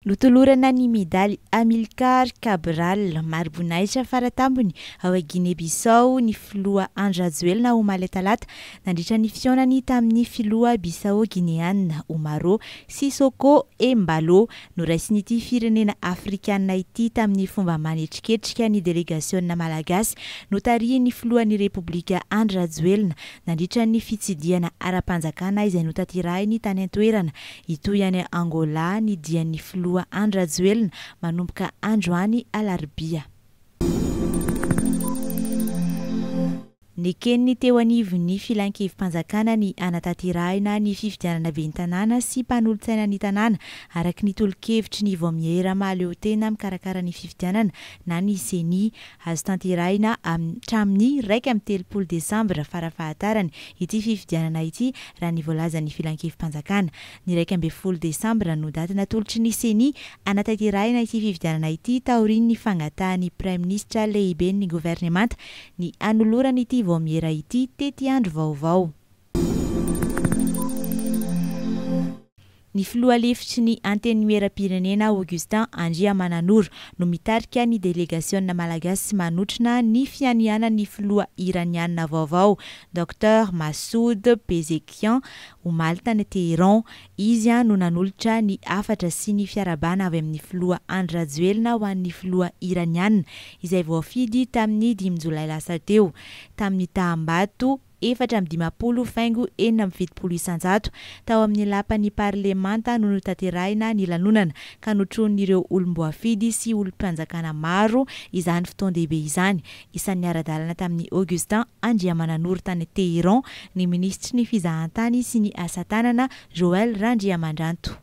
Notolorana ny medaly Amilcar Cabral, mari-boninahitra fara tampony ao Guinée-Bissau ny filoha Andry Rajoelina omaly talata nandritra ny fihaonany tamin'ny filoha Bissau-Guinéana Umaro Sissoko Embaló. Noraisin'ity firenena afrikanina ity tamin'ny fomba manetriketrika ny delegasiona malagasy notarihin'ny filohan'ny Repoblika Andry Rajoelina nandritra ny fitsidihana ara-panjakana izay notanterahiny tany an-toerana Hitohy any Angola ny dian'ny filoha Andry Rajoelina manomboka androany alarobia. Neken'ny teo anivon'ny Filan-kevi-panjakana ny hanatanterahina ny fifidianana ben'ny tanàna sy mpanolotsainan'ny tanàna araka ny tolo-kevitry ny Vaomiera mahaleotena mikarakara ny fifidianana na ny Ceni. Azo tanterahina hatramin'ny iraika amby telopolo desambra farafahatarany ity fifidianana ity raha ny voalazan'ny Filankevi-panjakana. Ny iraika ambin'ny folo desambra no daty natolotry ny Ceni hanatanterahina ity fifidianana ity taorian'ny fangatahan'ny Praiminisitra lehiben'ny governemanta ny hanolorany ity vaomiera ity tetiandro vaovao. Ny filoha lefitry ny Antenimierampirenena Augustin Andriamananoro no mitarika ny delegasiona malagasy manotrona ny fianianan'ny filoha Iraniana vaovao Docteur Massoud Pezeshkian omaly tany Téhéran. Izy no nanolotra ny hafatra sy ny fiarahabana avy amin'ny filoha Andry Rajoelina ho an'ny filoha Iraniana izay voafidy tamin'ny dimy jolay lasa teo tamin'ny taham-bato efatra amby dimampolo faingo enina amby fitopolo isanjato, tao amin'ny lapan'ny parlemanta no notanterahina ny lanonana, ka notronin'ireo olom-boafidy sy olom-panjakana maro izany fotoan-dehibe izany. Isan'ny niara-dalana tamin'i Augustin Andriamananoro tany Téhéran ny minisitry ny Fizahantany sy ny Asa Tanana, Joël Randriamandranto.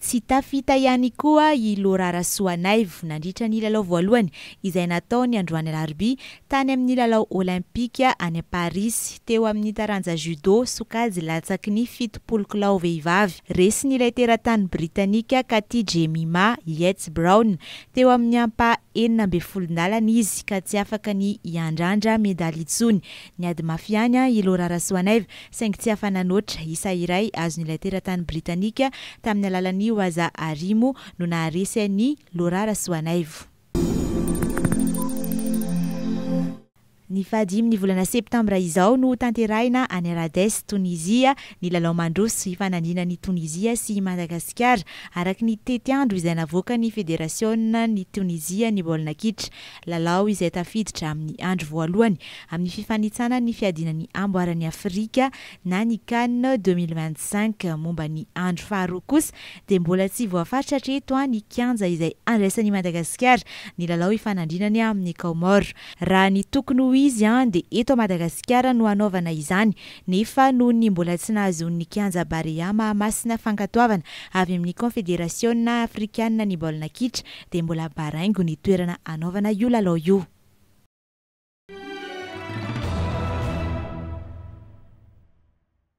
Tsy tafita ihany koa i Laura Rasoanaivo nandritra ny lalao voalohany izay natao ny androany alarobia tany amin'ny lalao Olympika any Parisy teo amin'ny taranja Judo sokajy latsaky ny fitopolo kilao vehivavy. Resin'ilay teratany Britanika Katie Jemima Yates Brown teo amin'ny ampaha enina ambin'ny folo ndalana izy ka tsy afaka ny hiandrandra medaly intsony Niady mafy ihany i Laura Rasoanaivo, saingy tsy afa-nanoatra. Isa iray azon'ilay teratany britanika tamin'ny alalan'i Waza Arimo no naharesy an'i Laura Rasoanaivo. Ny fahadimin'ny volana septambra izao no hotanterahina any Rades, Tonizia, ny lalao mandroso hifanandrinana an'i Tonizia sy i Madagasikara, araka ny tetiandro izay navoakan'ny federasionan' i Tonizia ny baolina kitra. Lalao izay tafiditra amin'ny andro voalohany amin'ny fifanitsana ny fiadiana ny amboaran'i Afrika na ny Can deux mille vingt cinq. Momba ny andro faharoa kosa dia mbola tsy voafaritra hatreto ny kianja izay andraisan'i Madagasikara ny lalao ifanandrinany amin'ny Kaomoro. Raha ny tokony ho izy dia eto Madagasikara no hanaovana izany nefa noho ny mbola tsy nahazoan'ny kianja Barea Mahamasina fankatoavana avy amin'ny Konfederasiona Afrikanina ny baolina kitra dia mbola baraingo ny toerana hanaovana io lalao io.